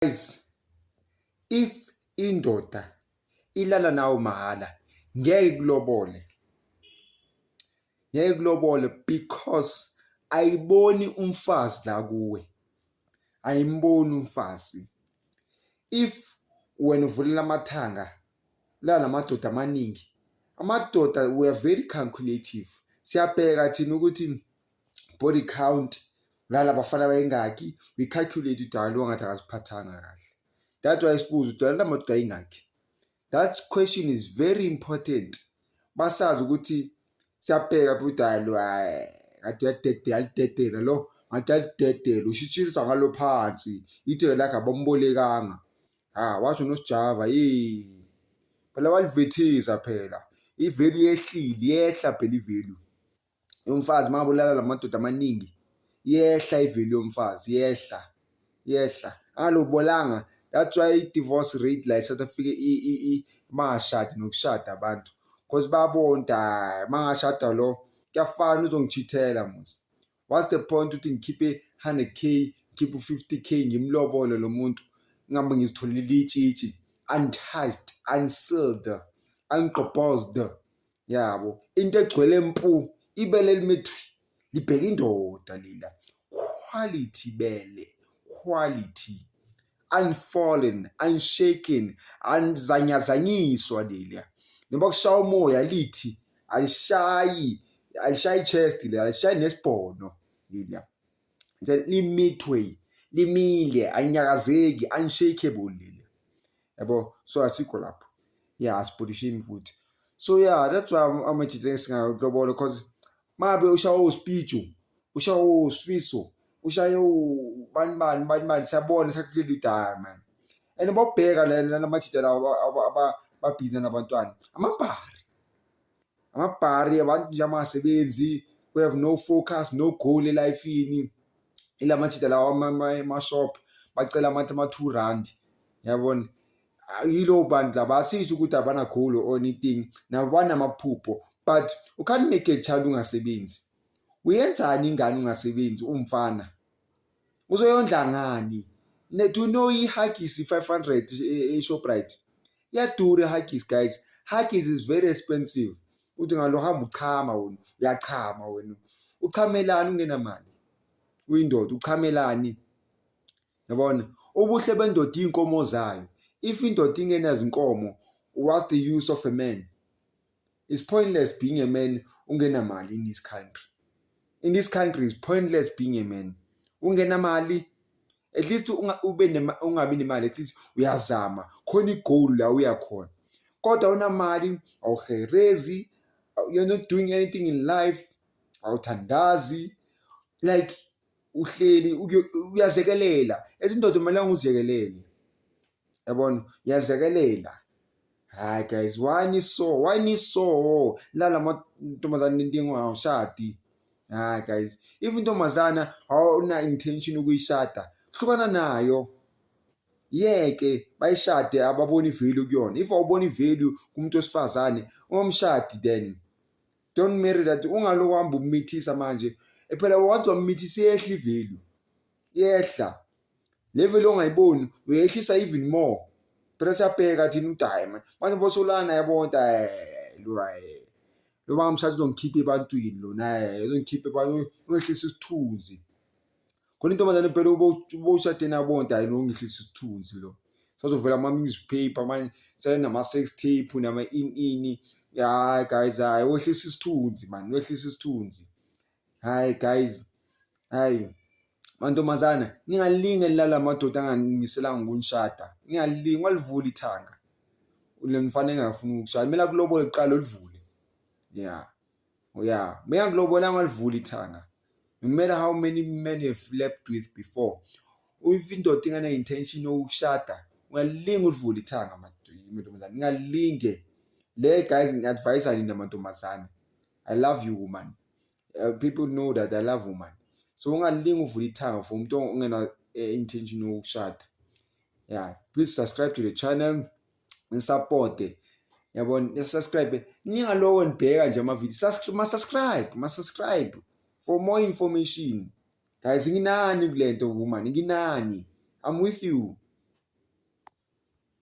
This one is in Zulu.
guys if indoda ilala nawo mahhala ngeke kulobole ngeke kulobole because ayiboni umfazi la kuwe ayimboni umfazi if wena uvulela amathanga la namadoda amaningi amadoda we are very calculative siyabheka thina ukuthi body count nala bafana bayingaki we calculate udala lo ngathi akaziphathanga kahle that why sibuza udala lamadoda ayingaki that question is very important basazi ukuthi siyabheka phi udala lo ngathi yadede yalidedela lo ngathi yalidedela ushitshilisa ngalo phansi itheke lakhe abambolekanga ha ah, washo nosijava yini phela walivethisa phela ivelu yehlile yehla phela ivelu yomfazi mabulala lamadoda amaningi yehla ivelu yomfazi yehla yehla angalobolanga that's why i-divorce rate la e-south africa bangashadi nokushada abantu because babonta mangashada lo kuyafana uzongichithela musa what's the point ukuthi ngikhiphe 100 k ngikhiphe u-50 k ngimlobole lo muntu ngihambe ngizitholele itshitshi untouched unsealed ungqobhozed yabo into egcwele mpu ibele elimethwi libheka indoda lila quality bele quality unfallen unshaken anzanyazanyiswa leliya noma kushaya umoya lithi alishayi alishayi chest leliya alishayi nesibhono leliya limithwe limile anyakazeki unshakable leliya yabo so asikho lapho ya yeah, asibhudishe imvuthi so yeah that's why amajita esingakulobola because mabe ushawa uspiju ushawa usfiso ushaye ubani bani bani bani siyabona sakuleli udaya man and bobheka lana lamajita lawo ababhizi nabantwana amabhari amabhari abantu nje amasebenzi we have no focus no goal elifini ila majida lawa mashop bacela amathi ama-two rand yabona yilo bantu laba asisho ukuthi abana goal or anything nabo banamaphupho but u can't make a child ungasebenzi uyenzani ingane ungasebenzi umfana uzoyondla ngani do you know i-huggies i-500 e-shoprite e, e yadura i-huggies guys huggies is very expensive uthi ngalo hamba uchama wena uyachama wena uchamelani ungenamali uyindoda uchamelani yabona ubuhle bendoda iy'nkomo zayo if indoda ingenazinkomo what's the use of a man is pointless being a man ungenamali in this country in this country is pointless being a man ungenamali at least ube ungabi nemali at least uyazama khona igoal la uyakhona kodwa unamali awuherezi you're not doing anything in life awuthandazi like uhleli uyazekelela ezindoda kumele unguzekelele yabona yazekelela hayi guys why ni so why ni so lala mantombazane nentingo awushadi hayi guys if intombazana awuna intention ukuyishada hlukana nayo yeke bayishade ababoni value kuyona if awuboni value kumuntu wesifazane ungomshadi then don't marry that ungaloku hamba umithisa manje phela wathi wamithisa iyehla ivalue iyehla level ongayiboni uyehlisa even more phela siyabheka thina udayi manje manje bosolana yabona eh, lo eh, lo banga mshado uzongikhipha ebantwini lona eh, uzongikhipha ebantwini ungehlisa isithunzi khona intombazane phela ubowushade nabona dayi lo ngehlisa isithunzi lo sazovela ama-newspaper manje senama-sex tape nama-in-ini hayi guys hayi wehlisa isithunzi mani wehlisa isithunzi Hayi guys, hayi mantombazana ningalinge lala madoda anganimiselanga ukunishada ningalinge walivula ithanga le mfana engafuni ukukushaya kumele akulobole kuqala olivule ya oh, ya uma engakulobola angalivula ithanga no matter how many men you have slept with before if indoda ingane-intention yokushada ungalinge ulivule ithanga mantombazane ningalinge le guys ngi-advayisa nina mantombazane i love you woman uh, people know that i love woman so ungalingi uvula ithanga for umuntu ongena eh, intention yokushada yeah please subscribe to the channel and support it yabona nisubscribe ningalowo nibheka nje amavideo masubscribe masubscribe for more information guys nginani kule nto woman nginani i'm with you